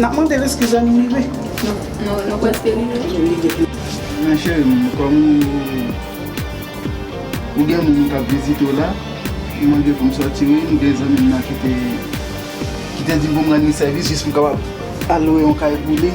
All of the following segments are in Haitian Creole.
Nap mande l eskiz an nou rive. Nou preske rive. Nan cheri m kom ou gen moun kap vizite w la m mande pou m soti wi m gen zanmi m nan ki te di l pou m rann li sèvis jis pou m kapab al lwe yon kay pou li.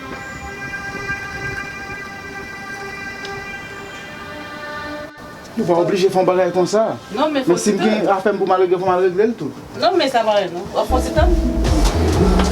Nou pa oblije fè yon bagay konsa. Non men fon ti tan. Men si m gen afè m pou m al regle fò m al regle l tou. Non men sa pa rèd non. Wap fon ti tan? Ahh.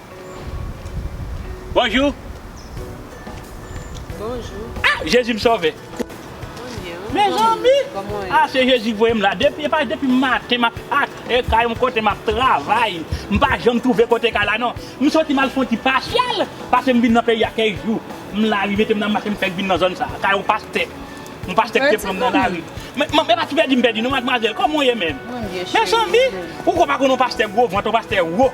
Bonjou. Bonjou. Ah jezi m sove. Mezanmi ah se jezi voye m la depi epa depi maten map atè kay yon kote map travay m pa janm twouve kote kay la non m soti mal fon ti pasyèl pase m vin nan peyi a kèk jou m la rive te m nan mache m fèk vin nan zòn sa kay yon pastè yon pastè ki te pran m nan lari men m epa ti pèdi m pèdi non madmwazèl kòman w ye menm mezanmi ou ko pa konn yon pastè gwo vant yon pastè wo.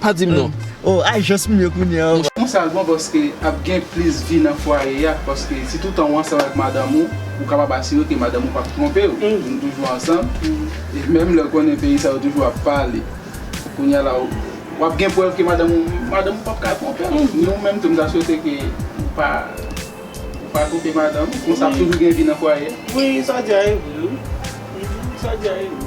Pa dim non. Oh ay jans m ye kounya oh. Ou sa l bon paske ap gen plis vi nan fwaye a paske si toutan ou ansanm avèk madanm ou ou kapab asire ke madanm ou pap twonpe w nou toujou ansanm e menm lè w konnen peyi sa yo toujou ap pale kounya la w ap gen prèv ke madanm ou madanm ou pap ka twonpe w ni ou menm tou m ta swete ke ou pa ou pa twonpe madanm ou konsa ap toujou gen vi nan fwaye a. Wi sa w di a e vre wi sa w di a e vre.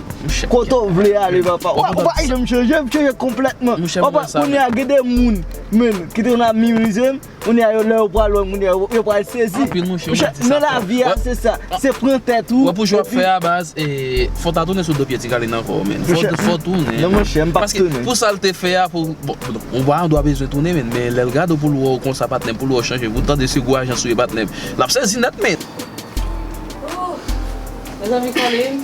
Kote ou vle ale papa. Ou pa ka janm chanje, ou chanje konplètman. Papa, kounye a gen de moun menm ki te konn ap minimize m, kounye a yo lè yo pral wè m kounye a yo pral sezi. Anpil moun chanje sa. Men lavi a se sa, se pran tèt ou. Wè pou jwèp fè a baz, fò ta tounen sou do pye ti Kalin ankò menn. Fò tounen. Non mwen chè, m pa k tounen. Paske pou sa l te fè a pou, bon pa an dwa bezwen tounen menn, men lè l gade w pou l wè w konsa patnè m, pou l wè w chanje, pou l tande se gwo ajan sou yo patnè m, l ap sezi nèt menn. Mezanmi Kalin,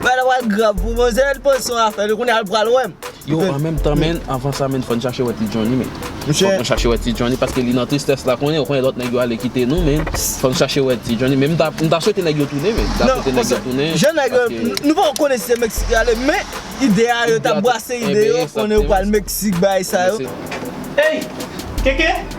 Bagay la pral grav pou manzè an panc son afè li kounya li pral wèm. Yo an menm tan menn avan sa menn fòn chache wè ti Johnny menn fòk nou chache wè ti Johnny paske li nan tristès la konnen ou konnen lòt nèg yo ale kite nou menn fòn chache wè ti Johnny menn m ta swete nèg yo tounen menn m ta swete nèg yo tounen paske jan nèg yo nou poko konnen si se meksik yo ale men ide a yo tap brase ide yo konnen yo pral meksik bagay sa yo. Ey! Keke!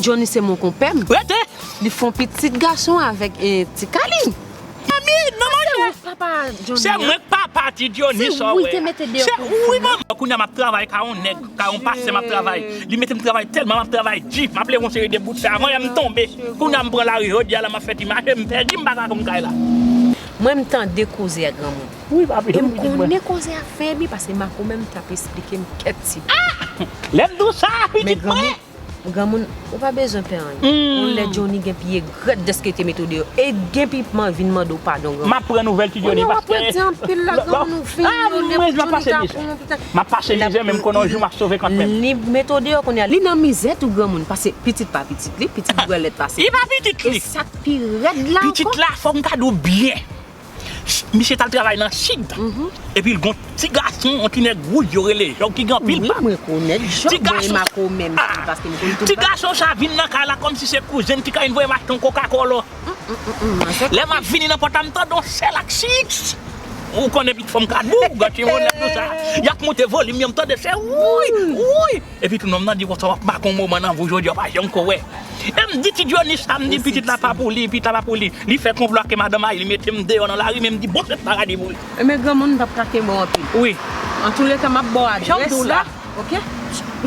Jhonny se mon konpè m. Rete! Li fon pitit gason avèk ti Kaline. Manmi, non manjè. Se ou k papa Jhonny an? Se mwen k papa ti Jhonny sa w wè a. Se ou li te mete deyò pou ou. Wi manman. Kounya m ap travay ka yon nèg, ka yon pastè m ap travay. Li mete m travay tèlman m ap travay di. M ap leve yon seri de bout fè avan yè m tonbe. Kounya m pran lari jodi a la m ap fè ti mache m pèdi m pa ka konn kay la. Mwen m tande koze a granmoun. E m konnen koze a fèm ri pase Marco menm t ap esplike m kèk ti bagay. Lè m di w sa a pitit mwen ye! Men granmoun, granmoun ou pa bezwen pè anyen. Yon lè Johnny gen pi egrèt dèske l te mete w deyò. E gen pi man vin mande w padon granmoun. M ap pran nouvèl ti Johnny paske. Kounye w ap rete anpil la granmoun ou fin yon lè pou Johnny ta pran w anpil. M ap pase mizè men m konnen yon jou m ap sove kont menm. Li mete w deyò kounye a li nan mizè tou granmoun pase pitit pa pitit li, pitit dwèlèt pase li. Li pa pitit li! E sa k pi rèd la ankò. Pitit la fò m ta di w byen. Misye t al travay nan sid epi l gen yon ti gason, yon ti nèg wouj yo rele Jòb ki gen anpil bab. Ti gason sa, ti gason sa vin nan kay la kòmsi se kouzen m ti kay li voye m achte yon koka kòlò. Lè m ap vini nan pòt la m tande yon sèl ak chiips. Ou konnen pitit fanm ka dou, gòt yon nèg konsa. Y ap moute volim yo m tande se wouuyy, wouuyy. Epi tou nonm nan di konsa wap make yon moman nan vi w jodi a w pa janm ko wè. E m di ti Johnny sa m di pitit la pa pou li, pitit la pa pou li. Li fè konplo ake madan mari li mete m deyò nan lari men m di bon se paradi pou li. Enben granmoun m pap ka kenbe w anpil. Wi. Antouleka map baw adrès la. Janm di w la. Ok.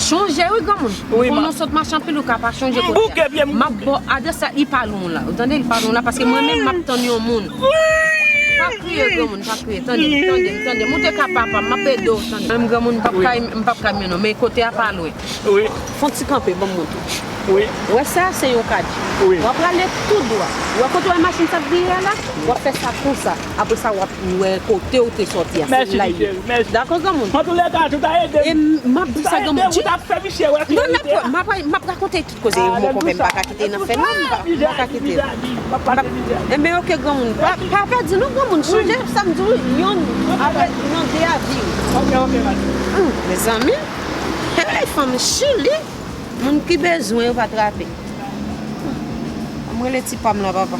Chonje wi granmoun. Wi ma. Konn ou sot mache anpil ou ka pa chonje kote a. M bouke pye m bouke. Map baw adrès la li pa lwen w la. Ou tande li pa lwen w la paske mwen menm map tann yon moun. Pa kriye granmoun pa kriye tande m tande m tande m ou te ka papa m map ede w tande. Menm granmoun m pap ka menw non men kote a pa lwen fon ti kanpe banm montre w wè sa se yon kadi wap prale tout dwa ou wè kote w wè machin sa ap vire a la wap fè sa konsa apre sa wap wè kote w te soti a se la ye dako granmoun e map di sa granmoun non map rakonte. Koze mo konpè m pa ka kite nan fè non m pa ka kite Enben ok granmoun pa pèdi non granmoun sonje sa m di w yon aprè yon de a di w Mezanmi Hey fanm chili Moun ki bezwen yo pa trape An m rele ti pa m la papa.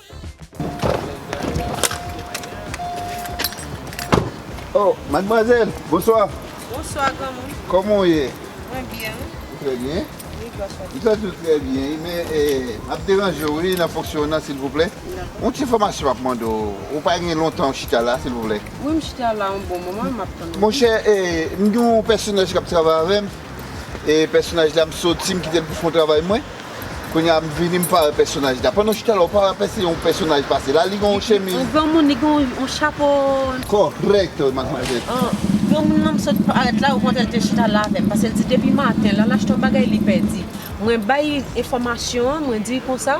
Oh mademoiselle bonsoir. Bonsoir grand moun. Koman ou ye? Mwen byen wi. Ou trè byen? Wi gras a Dieu. Mwen tou trè byen wi men map deranje w wi nan fonksyon w nan silvouplè. Dakò. Yon ti enfòmasyon map mande w. Ou pa gen lontan ou chita la silvouplè? Wi m chita la yon bon moman map tann ou. Monchè m gen yon pèsonaj kap travay avè m e pèsonaj la m soti m kite l pou fon travay mwen. Kounye a m vini m pa wè pèsonaj la. Pandan chita la ou pa wè apèsi yon pèsonaj pase la. Li gen yon chemiz. Yon granmoun li gen yon chapo. Kòrèk madmwazèl. Granmoun nan sot parèt la okontrè l te chita la avè m. Pase l di depi maten l al achte yon bagay li pèdi. Mwen bay enfòmasyon an mwen di l konsa.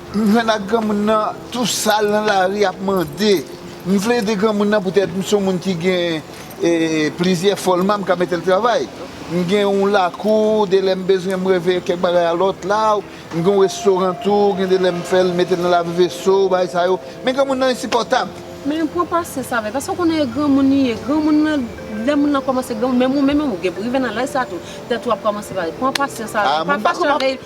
M jwenn ak granmoun nan tou sal nan lari ap mande. M vle ede granmoun nan poutèt m son moun ki gen plizyè fòlman m ka mete l travay. M gen yon lakou, de lè m bezwen m reve kèk bagay a lòt la. M gen yon restoran tou, gen de lè m fè l mete l nan lave veso, bagay sa yo. Men granmoun nan ensipòtab. Men pran pasyans avè l paske ou konnen e granmoun li ye. Granmoun nan, lè moun nan kòmanse granmoun, menm ou menm ou gen pou rive nan laj sa tou, tèt ou ap kòmanse pale. Pran pasyans avè l, pa fache avè l,